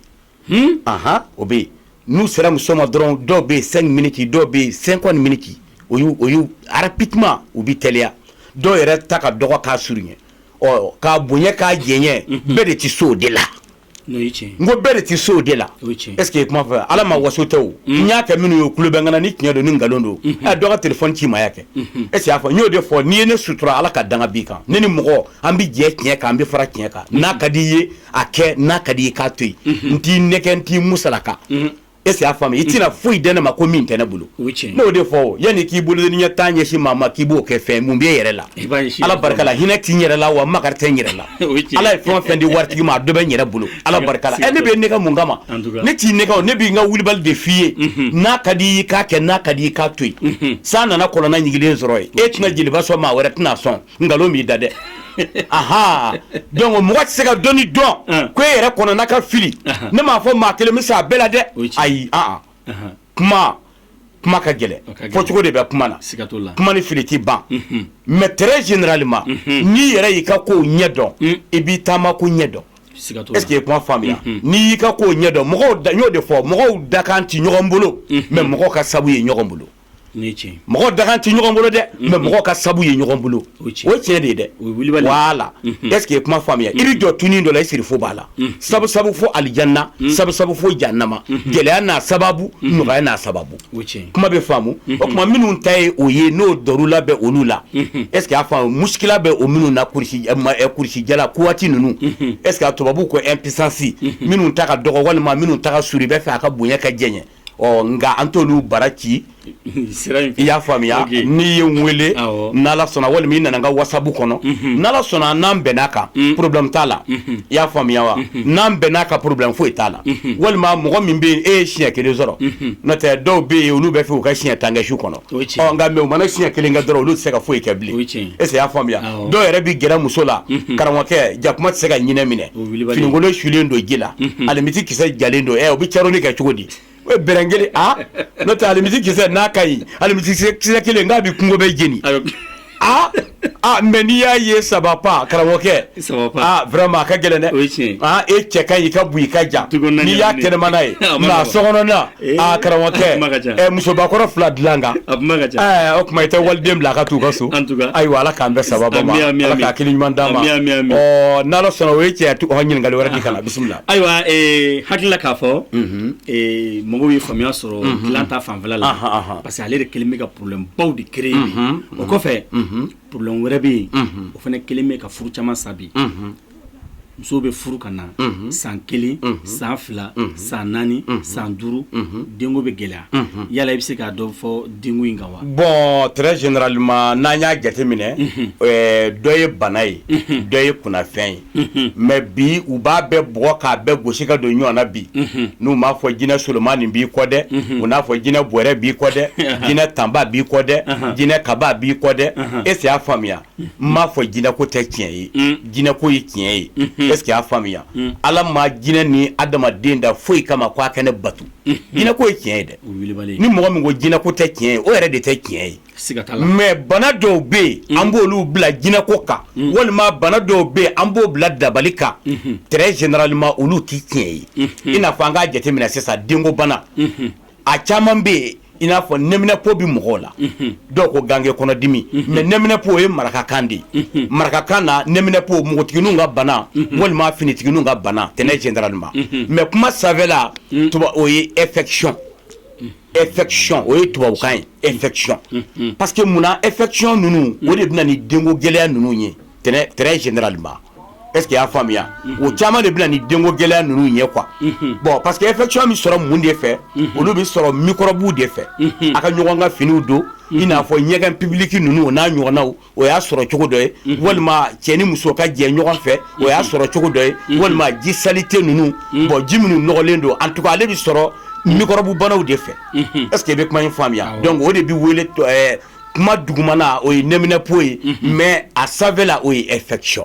o bɛ yen n'u sera muso ma dɔrɔn dɔw bɛ yen cinq minutes dɔw bɛ yen cinquante minutes o y'u rapidement u bɛ teliya dɔw yɛrɛ ta ka dɔgɔ k'a surunya ɔ k'a bonya k'a janya bɛɛ de tɛ se o de la n ko bɛɛ de tɛ se o de la est-ce que kuma faamu ala ma waso tɛ n y'a kɛ minnu ye k'olu bɛ n kan na ni tiɲɛ don ni nkalon don a dɔ ka téléphone ci ma yan kɛ est-ce que y'a faamu n y'o de fɔ n'i ye ne sutura ala ka danga b'i kan ne ni mɔgɔ an bɛ jɛ tiɲɛ kan an bɛ fara tiɲɛ kan n'a ka di i ye a kɛ n'a ka di i k'a to yen n t'i nɛgɛ n t'i musalaka est-ce que y'a faamuya i tɛna foyi di ne ma ko min tɛ ne bolo n'o de fɔ yanni k'i bolo ni ɲɛ taa ɲɛsin maa ma k'i b'o kɛ fɛn mun bɛ e yɛrɛ la ala barika la hinɛ tɛ n yɛrɛ la wa makari tɛ n yɛrɛ la ala ye fɛn o fɛn di waati ma a dɔ bɛ n yɛrɛ bolo ala barika la ne b'e nɛgɛ mun kama ne t'i nɛgɛ ne bɛ n ka wulibali de f'i ye n'a ka di i k'a kɛ n'a ka di i k'a to yen san nana kɔlɔnda ɲigilen sɔrɔ e tɛna jeliba sɔn maa wɛrɛ tɛna sɔn nkalon b'i da dɛ aa donc mɔgɔ tɛ se ka dɔnni dɔn ko e yɛrɛ kɔnɔna ka fili ne m'a fɔ maa kelen bɛ se a bɛɛ la dɛ ayi kuma kuma ka gɛlɛn fɔ cogo de bɛ kuma na kuma ni fili tɛ ban mais très généralement n'i yɛrɛ y'i ka ko ɲɛ dɔn i b'i taama ko ɲɛ dɔn est-ce que kuma faamuya n'i y'i ka ko ɲɛ dɔn mɔgɔ da n y'o de fɔ mɔgɔ dakan tɛ ɲɔgɔn bolo mais mɔgɔ ka sabu ye ɲɔgɔn bolo mɔgɔ dakan tɛ ɲɔgɔn bolo dɛ mais mɔgɔ ka sabu ye ɲɔgɔn bolo o tiɲɛ de ye dɛ voilà est-ce que kuma faamuya i bɛ jɔ tunin dɔ la i siri fo b'a la sabu fo alijanna sabu fo jahannama gɛlɛya n'a sababu nɔgɔya n'a sababu kuma bɛ faamu o tuma minnu ta ye o ye n'o la bɛ olu la est-ce que y'a faamu musikila bɛ o minnu na kurusijala kuwati ninnu est-ce que tubabu ko impuissance minnu ta ka dɔgɔ walima minnu ta ka surun b'a fɛ a ka bonya ka janya ɔ nka an t'olu baara kɛ i y'a faamuya n'i ye n weele n'ala sɔnna walima i nana n ka wasabu kɔnɔ n'ala sɔnna n'an bɛnn'a kan mm. problème t'a la mm-hmm. i y'a faamuya wa mm-hmm. n'an bɛnn'a kan problème foyi t'a la mm-hmm. walima mɔgɔ min bɛ e ye siɲɛ kelen sɔrɔ n'o tɛ dɔw bɛ yen olu bɛ fɛ u ka siɲɛ tan kɛ su kɔnɔ nka mais u mana siɲɛ kelen kɛ dɔrɔn olu tɛ se ka foyi kɛ bilen est-ce que i y'a faamuya dɔw yɛrɛ bɛ gɛrɛ muso la karamɔgɔkɛ jakuma tɛ se ka ɲinɛ minɛ finikolon sulen don ji la alimɛti kisɛ jalen don ɛ o bɛ caroni kɛ cogo di o bere kelen n'o tɛ alimɛti kisɛ n'a ka ɲi alimɛti kisɛ kelen nka a bɛ kungo bɛɛ jeni aa aa mais n'i y'a ye ça va pas karamɔgɔkɛ ça va pas aa vraiment a ka gɛlɛn dɛ o ye tiɲɛ ye aa e cɛ ka ɲi i ka bon i ka jan Tiko naani n'i y'a naani. kɛnɛmana ye A ma nka nɔgɔn. sokɔnɔna Ee, aa a kuma ka karamɔgɔkɛ ca. ɛ musobakɔrɔ fila dilan kan a kuma ka ca ɛɛ o tuma i tɛ waliden bila a ka t'u ka so En tout cas. ayiwa ala k'an bɛɛ sababa ma Ami, ami, ala ami. ka hakili ɲuman d'an ma Ami, ami, ami. ɔ n'ala sɔnna o ye cɛ tu- ɔ, ɲininkali wɛrɛ di kana bisimila ayiwa eh, hakili la k'a fɔ eh, mɔgɔw ye faamuya sɔrɔ dilan ta fanfɛla la Ahan, ahan. parce que ale de kelen bɛ ka problèmebaw de créer o kɔfɛ problème wɛrɛ bɛ yen o fana kelen bɛ ka furu caman sa bi muso bɛ furu ka na san kelen san fila san naani san duuru denko bɛ gɛlɛya yala i bɛ se ka dɔ fɔ denko in kan wa bon très généralement n'an y'a jateminɛ dɔ ye bana ye dɔ ye kunnafɛn ye mais bi u b'a bɛɛ bugɔ k'a bɛɛ gosi ka don ɲɔgɔn na bi n'u m'a fɔ jinɛ solomanin b'i kɔ dɛ u n'a fɔ jinɛ bɔrɛ b'i kɔ dɛ jinɛ tanba b'i kɔ dɛ jinɛ kaba b'i kɔ dɛ est-ce que i y'a faamuya n m'a fɔ jinɛ ko tɛ tiɲɛ ye jinɛ ko ye tiɲɛ ye est-ce que i y'a faamuya ala ma jinɛ ni adamaden da foyi kama ko a kɛ ne bato jinɛ ko ye tiɲɛ ye dɛ ni mɔgɔ min ko jinɛ ko tɛ tiɲɛ ye o yɛrɛ de tɛ tiɲɛ ye mais bana dɔw bɛ yen an b'olu bila jinɛ ko kan walima bana dɔw bɛ yen an b'o bila dabali kan très généralement olu tɛ tiɲɛ ye i n'a fɔ an k'a jateminɛ sisan denko bana a caman bɛ yen i n'a fɔ nɛminɛnpo bɛ mɔgɔw la dɔw ko ganke kɔnɔdimi mais nɛminɛnpo o ye marakakan de ye marakakan na nɛminɛnpo npogotigininw ka bana walima finitigininw ka bana très généralement mais kuma sanfɛla o ye infection infection o ye tubabukan ye infection parce que munna infection ninnu o de bɛ na ni denko gɛlɛya ninnu ye très généralement est-ce que i y'a faamuya o caman de bɛ na ni denko gɛlɛya ninnu ye quoi bon parce que infection bɛ sɔrɔ mun de fɛ olu bɛ sɔrɔ mikɔrɔbu de fɛ a ka ɲɔgɔn ka finiw don i n'a fɔ ɲɛgɛn public ninnu o n'a ɲɔgɔnnaw o y'a sɔrɔ cogo dɔ ye walima cɛ ni muso ka jɛ ɲɔgɔn fɛ o y'a sɔrɔ cogo dɔ ye walima ji saleté ninnu bon ji minnu nɔgɔlen don en tout cas ale bɛ sɔrɔ mikɔrɔbu banaw de fɛ est-ce que i bɛ kuma in faamuya donc o de bɛ wele kuma dugumana o ye nɛminɛnpo ye mais a sanfɛla o ye infection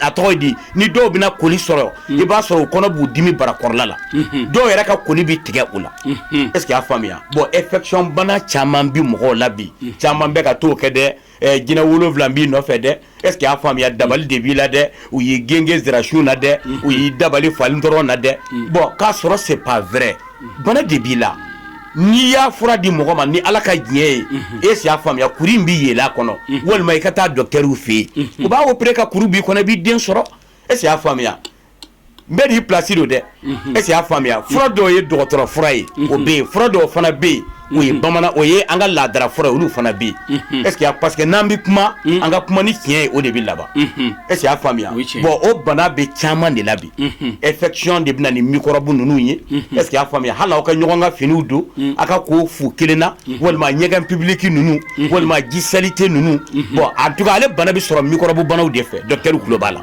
a tɔgɔ di ni dɔw bɛna koli sɔrɔ mm. i b'a sɔrɔ u kɔnɔ b'u dimi barakɔrɔla la mm-hmm. dɔw yɛrɛ ka koli bɛ tigɛ u la mm-hmm. est-ce que y'a faamuya bon infection bana caman bɛ mɔgɔw la bi mm. caman bɛ ka t'o kɛ dɛ eh, jinɛ wolowula b'i nɔfɛ dɛ est-ce que y'a faamuya mm. dabali de b'i la dɛ u y'i gengen zirasun na dɛ mm-hmm. u y'i dabali fali tɔrɔn na dɛ bon k'a sɔrɔ c'est pas vrai bana de b'i la n'i y'a fura di mɔgɔ ma ni ala ka diɲɛ ye est-ce que y'a faamuya kuru in bɛ yeelen a kɔnɔ walima i ka taa docteurw fɛ yen u b'a opérer ka kuru b'i kɔnɔ i b'i den sɔrɔ est-ce que y'a faamuya an bɛɛ n'i place don dɛ est-ce que y'a faamuya fura dɔw ye dɔgɔtɔrɔ fura ye o bɛ yen fura dɔw fana bɛ yen o ye bamanan o ye an ka laadara fura ye olu fana bɛ yen est-ce que parce que n'an bɛ kuma an ka kuma ni tiɲɛ ye o de bɛ laban est-ce que y'a faamuya bon o bana bɛ caman de la bi infection de bɛ na ni mikɔrɔbu ninnu ye est-ce que y'a faamuya hali aw ka ɲɔgɔn ka finiw don aw ka ko fu kelen na walima ɲɛgɛn public ninnu walima ji saleté ninnu bon en tout cas ale bana bɛ sɔrɔ mikɔrɔbu banaw de fɛ docteurw tulo b'a la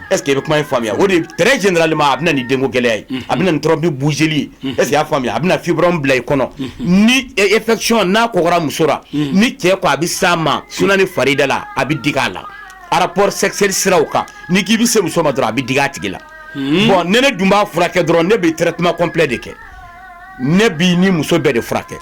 Est-ce que i bɛ kuma in faamuya o de très généralement a bɛ na ni denko gɛlɛya ye a bɛ na ni trompe bouchéli ye est-ce que i y'a faamuya a bɛ na fibrome bila i kɔnɔ ni infection n'a kɔgɔra muso la ni cɛ ko a bɛ s'a ma suna ni farida la a bɛ digi a la rapport sexuel siraw kan n'i k'i bɛ se muso ma dɔrɔn a bɛ digi a tigi la bon ni ne dun b'a furakɛ dɔrɔn ne bɛ traitement complet de kɛ ne b'i ni muso bɛɛ de furakɛ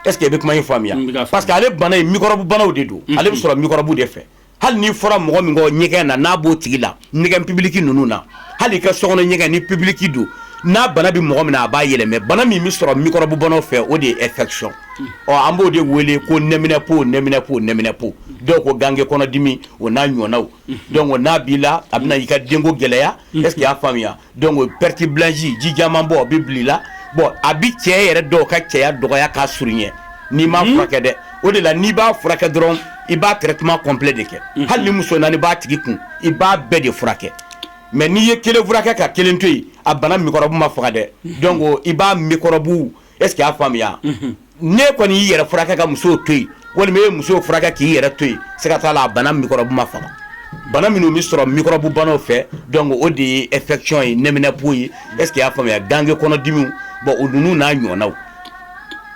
est-ce que i bɛ kuma in faamuya parce que ale bana in microbe banaw de don ale bɛ sɔrɔ microbe de fɛ hali n'i fɔra mɔgɔ min kɔ ɲɛgɛn na n'a b'o tigi la ɲɛgɛn public ninnu na hali i ka sokɔnɔ ɲɛgɛn ni public don n'a bana bɛ mɔgɔ min na a b'a yɛlɛmɛ bana min bɛ sɔrɔ mikɔrɔbu bana fɛ o de ye infection o an b'o de wele ko nminɛpo nminɛpo nminɛpo dɔw ko gange kɔnɔdimi o n'a ɲɔgɔnnaw donc n'a b'i la a bɛna i ka denko gɛlɛya est-ce que y'a faamuya Donc perte blanche ji jɛman bɔ bɛ bila i la bon a bɛ cɛ yɛrɛ dɔw ka cɛya dɔgɔya k'a surunya n'i m'a furakɛ dɛ o de la n'i b'a furakɛ dɔrɔn i b'a traitement complet de kɛ hali ni muso naani b'a tigi kun i b'a bɛɛ de furakɛ mais n'i ye kelen furakɛ ka kelen to yen a bana mikɔrɔbu ma faga dɛ donc i b'a mikɔrɔbu est-ce que y'a faamuya n'e kɔni y'i yɛrɛ furakɛ ka muso to yen walima e ye muso furakɛ k'i yɛrɛ to yen siga t'a la a bana mikɔrɔbu ma faga bana minnu bɛ sɔrɔ mikɔrɔbu banaw fɛ donc o de ye infection ye nminɛpo ye est-ce que y'a faamuya gange kɔnɔdimi bon o ninnu n'a ɲɔgɔnnaw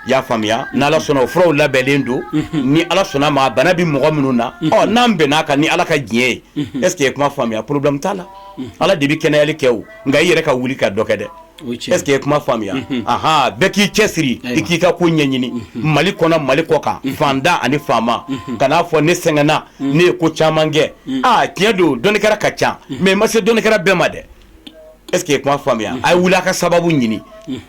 i y'a faamuya ni ala sɔnna o furaw labɛnnen don ni ala sɔnna ma bana bɛ mɔgɔ minnu na ɔ n'an bɛnn'a kan ni ala ka diɲɛ ye est-ce que ye kuma faamuya problème t'a la ala de bɛ kɛnɛyali kɛ o nka i yɛrɛ ka wuli ka dɔ kɛ dɛ est ce que i ye kuma faamuya an bɛɛ k'i cɛsiri i k'i ka ko ɲɛɲini mali kɔnɔ mali kɔkan faantan ani faama kan'a fɔ ne sɛgɛnna ne ye ko caman kɛ aa tiɲɛ don dɔnnikɛla ka ca mais ma se dɔnnikɛla bɛɛ ma dɛ est ce que i ye kuma faamuya a ye wuli a ka sababu ɲini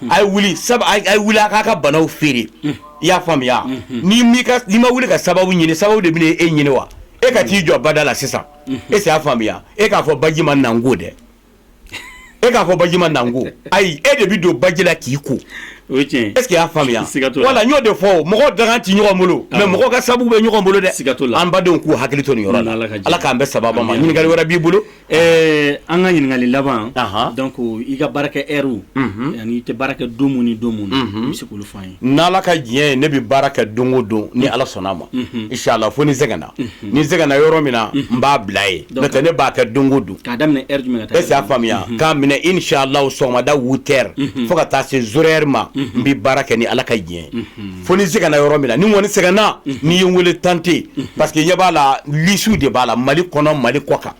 a ye wuli a k'a ka banaw feere i y'a faamuya n'i ma wuli ka sababu ɲini sababu de bɛ e ɲini wa e ka t'i jɔ bada la sisan est ce que i y'a faamuya e k'a fɔ baji ma na n ko dɛ e k'a fɔ baji ma na n ko ayi e de bɛ don baji la k'i ko o ye tiɲɛ ye est ce que i y'a faamuya siga t'o la voilà n y'o de fɔ mɔgɔw dakan tɛ ɲɔgɔn bolo mais mɔgɔw ka sababu bɛ ɲɔgɔn bolo dɛ siga t'o la an badenw k'u hakili to nin yɔrɔ la Ala ka jɛ Ala k'an bɛɛ sababa ma ɲininkali wɛrɛ b'i bolo ɛɛ an ka ɲininkali laban donc i ka baarakɛ heurew ani i tɛ baara kɛ don min ni don min i bɛ se k'olu fɔ an ye n'ala ka diɲɛ ye ne bɛ baara kɛ don o don ni ala sɔnna a ma inshallah fo ni sɛgɛnna ni sɛgɛnna yɔrɔ min na n b'a bila yen n'o tɛ ne b'a kɛ don o don y'a faamuya k'a minɛ inshallah sɔgɔmada huit heures fo ka taa se zéro heure ma n bɛ baara kɛ ni ala ka diɲɛ fo ni sɛgɛnna yɔrɔ min na ni kɔni sɛgɛnna n'i ye n weele tante parce que ɲɛ b'a la lisiw de b'a la mali kɔnɔ mali kɔkan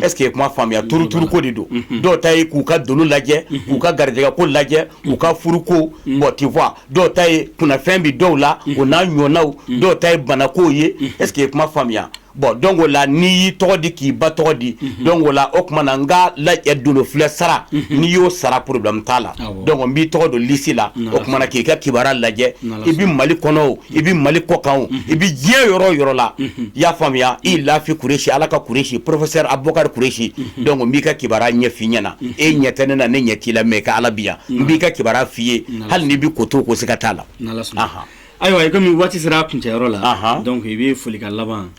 est ce que i ye kuma faamuya tuurutuuruko de don dɔw ta ye k'u ka dolo lajɛ k'u ka garijɛgɛ ko lajɛ u ka furuko bon tu vois dɔw ta ye kunnafɛn bɛ dɔw la o n'a ɲɔgɔnnaw dɔw ta ye banako ye est ce que i ye kuma faamuya bon donc o la n'i y'i tɔgɔ di k'i ba tɔgɔ di donc o la o tuma na n ka lajɛ dolo filɛ sara n'i y'o sara problème t'a la donc n b'i tɔgɔ don lisi la o tuma na k'i ka kibaruya lajɛ i bɛ mali kɔnɔ o i bɛ mali kɔkan o i bɛ diɲɛ yɔrɔ o yɔrɔ la i y'a faamuya i lafi kuresi ala ka kuresi professeur abubakari kuresi donc n b'i ka kibaruya ɲɛf'i ɲɛna e ɲɛ tɛ ne na ne ɲɛ t'i la mais ka ala bi yan n b'i ka kibaruya f'i ye hali n'i bɛ ko to ko siga t'a la ayiwa i komi waati sera a kuncɛyɔrɔ la donc i bɛ folikan laban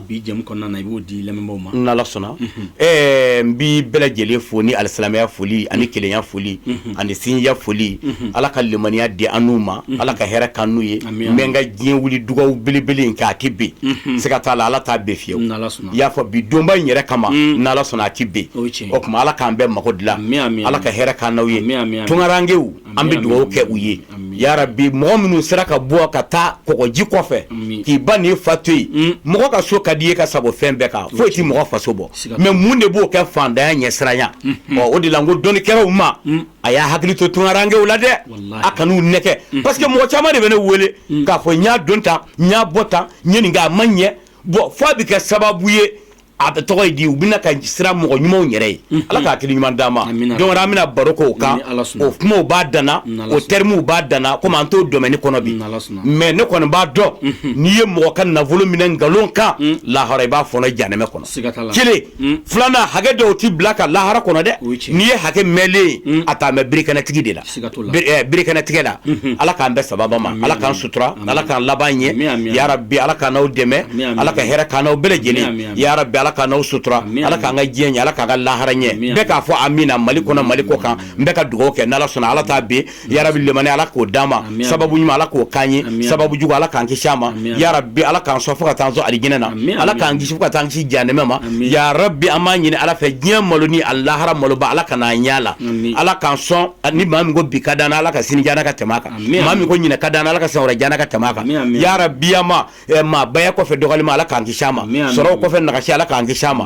bi jɛmu kɔnɔna na i b'o di lamɛnbaaw ma n'ala sɔnna Ɛɛ n b'i bɛɛ lajɛlen fo ni alisilamɛya foli ani kelenya foli unhun ani sinjiya foli unhun Ala ka limaniya di an n'u ma unhun Ala ka hɛrɛ k'an n'u ye ami ami n bɛ n ka diɲɛ wuli dugawu belebele in kɛ a tɛ ben unhun siga t'a la Ala t'a ben fiyewu n'Ala sɔnna i y'a fɔ bi donba in yɛrɛ kama uun n'Ala sɔnna a tɛ ben o ye tiɲɛ ye o tuma Ala k'an bɛɛ mago dilan ami ami Ala ka hɛrɛ k'an n'aw ye ami ami ami tunkarankɛw An bɛ dugawu kɛ u ye ya rabi mɔgɔ minnu sera ka bɔ ka taa kɔgɔji kɔfɛ k'i ba n'i fa to yen mɔgɔ ka so ka di i ye ka sago fɛn bɛɛ kan foyi tɛ mɔgɔ faso bɔ mais mun de b'o kɛ fantanya ɲɛsiranya o de la n ko dɔnnikɛlaw ma a y'a hakili to tunkarankɛw la dɛ a kan'u nɛgɛn parce que mɔgɔ caman de bɛ ne wele k'a fɔ n y'a don tan n y'a bɔ tan n ye nin kɛ a ma ɲɛ bon f'a bɛ kɛ sababu ye a bɛ tɔgɔ ye di u bɛna ka siran mɔgɔ ɲumanw yɛrɛ ye ala ka hakili ɲuman d'an ma donc an bɛna baro k'o kan o kumaw b'a dan na o termes b'a dan na komi an t'o domaine kɔnɔ bi mais ne kɔni b'a dɔn n'i ye mɔgɔ ka nafolo minɛ nkalon kan lahara i b'a fɔnɔ janɛmɛ kɔnɔ kelen filanan hakɛ dɔw tɛ bila ka lahara kɔnɔ dɛ n'i ye hakɛ mɛnnen a taa mɛ birikanɛtigi de la birikanɛtigɛ la ala k'an bɛɛ sababu ma ala k'an sutura ala k'an laban ɲɛ ya rabbi ala k'an n'aw dɛmɛ ala ka hɛrɛ k'an n'aw bɛɛ lajɛlen ya rabbi ala k'an n'aw sutura ala k'an ka diɲɛ ɲɛ ala k'an ka lahara ɲɛ bɛɛ k'a fɔ amiina mali kɔnɔ mali kɔ kan n bɛ ka dugawu kɛ n'ala sɔnna ala t'a bin ya rabbi limani ala k'o d'an ma sababu ɲuman ala k'o k'an ye sababu jugu ala k'an kisi a ma ya rabbi ala k'an sɔn fo ka taa an sɔn alijinɛ na ala k'an kisi fo ka taa an kisi janɛmɛ ma ya rabbi an b'a ɲini ala fɛ diɲɛ malo ni a lahara maloba ala kan'an ɲɛ la ala k'an sɔn ni maa min ko bi ka d'an na ala ka sini diy'an na ka tɛmɛ a kan maa min ko ɲinan ka d'an na ala ka san wɛrɛ diy'an na ka tɛmɛ a kan ya rabbi an ma maabaya kɔfɛ dɔgɔnin ma ala k'an kisi a ma sɔrɔ kɔfɛ nagasi ala k'an kisi a ma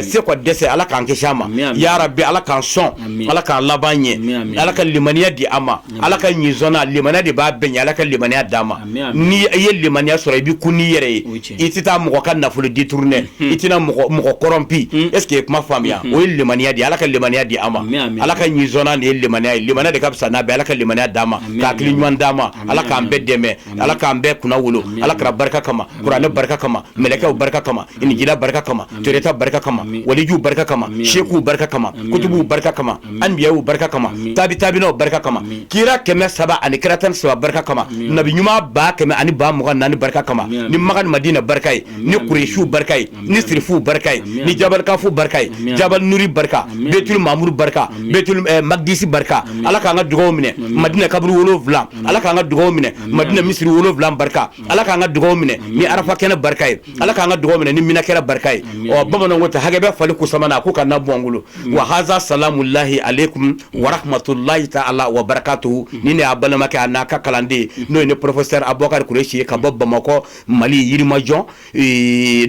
se kɔ dɛsɛ ala k'an kisi a ma ya rabbi ala k'an sɔn ala k'an laban ɲɛ ala ka limaniya di an ma ala ka ɲin limaniya de b'a bɛɛ ɲɛ ala ka limaniya d'an ma n' i ye limaniya sɔrɔ i bɛ kun' i yɛrɛ ye i tɛ taa mɔgɔ ka nafolo détourner i tɛna mɔgɔ corrompu est-ce que i ye kuma faamuya o ye limaniya di ala ka limaniya di an ma ala ka nin de ye limaniya ye limaniya de ka fisa n'a bɛɛ ala ka limaniya d'an ma ka hakili ɲuman d'an ma ala k'an bɛɛ dɛmɛ ala k'an bɛɛ kunnawolo ala kira barika kama kuranɛ barika kama mɛlɛkɛw barika kama injila barika kama toreta barika kama waliju barika kama seku barika kama kutubuw barika kama anbiyaw barika kama tabi tabinaw barika kama kira kɛmɛ saba ani kira tan ni saba barika kama nabi ɲuman ba kɛmɛ ani ba mugan ni naani barika kama ni makan madina barika ye ni kuresi barika ye ni sirifu barika ye ni jabal kafu barika ye jabal nuri barika betul mamuru barika betul magdisi barika ala k'an ka dugaw minɛ madina kaburu wolowula ala k'an ka dugaw minɛ madina misiri wolowula barika ala k'an ka dugaw minɛ ni arafat kɛnɛ barika ye ala k'an ka dugawu minɛ ni mina kɛra barika ye bamananw ko ta hakɛ bɛ fali ku sama na ku kana bɔ an bolo wa haza salamullahi aleykum wa rahmatullahi taala wa barakatuhu ni ne y'aw balimakɛ an'aw ka kalanden n'o ye ne professeur abubakari kuresi ka bɔ bamakɔ mali yirimajɔ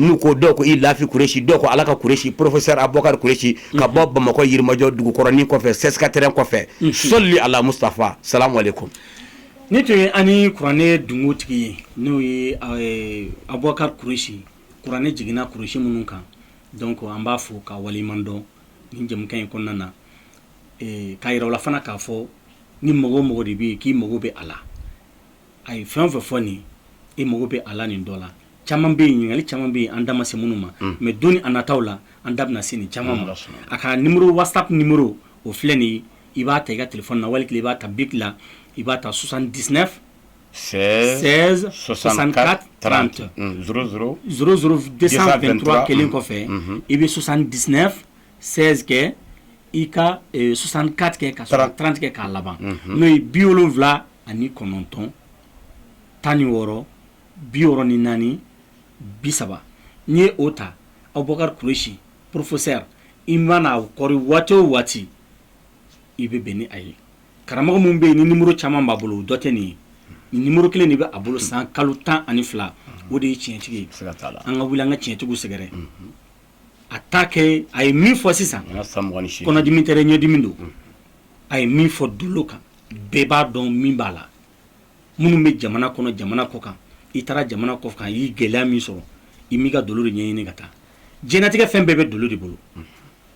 n'u ko dɔw ko ilafi kuresi dɔw ko ala ka kuresi professeur abubakari kuresi ka bɔ bamakɔ yirimajɔ dugukɔrɔnin kɔfɛ CSK terrain kɔfɛ sɔli ala mustafa salamu aleykum Nin tun ye an ni kuranɛ dungutigi ye n'o ye abubakari kuresi kuranɛ jiginna kuresi minnu kan donc an b'a fɔ ka waliɲuman dɔn nin jɛmu in kɔnɔna na k'a yira aw la fana k'a fɔ ni mɔgɔ o mɔgɔ de bɛ yen k'i mago bɛ a la a ye fɛn o fɛn fɔ nin e mago bɛ a nin dɔ la caman bɛ yen ɲininkali caman bɛ yen an da ma se minnu ma mais don nataw la an da bɛna se nin caman ma a ka nimɔrɔ WhatsApp nimɔrɔ o filɛ nin ye i b'a ta i ka tilefana na wali i b'a ta bi la i b'a ta susan dis sɛsansan trante szouru2ttura kelen kɔfɛ i bɛ susan dis sɛkɛ i ka susan katigɛ ka trantigɛ k'a laban n'o ye bi wolonwula ani kɔnɔntɔn tan ni wɔɔrɔ bi ni naani bi saba n'i ye o ta aw bakari kulusi porofosɛ i manaɔri waati o waati i bɛ bɛn ni a ye karamɔgɔ minnu bɛ yen nimɔrɔ caman b'a bolo dɔ tɛ nin ye nimɔrɔ kelen de bɛ a bolo san kalo tan ani fila o de ye tiɲɛtigi ye an ka wuli an ka tiɲɛtigiw sɛgɛrɛ a t'a kɛ a ye min fɔ sisan kɔnɔdimi tɛ ɲɛdimi don a ye min fɔ dolo kan bɛɛ b'a dɔn min b'a la minnu bɛ jamana kɔnɔ jamana kɔ kan i taara jamana kɔ kan i ye gɛlɛya min sɔrɔ i m'i ka dolo de ɲɛɲini ka taa diɲɛlatigɛ fɛn bɛɛ bɛ dolo de bolo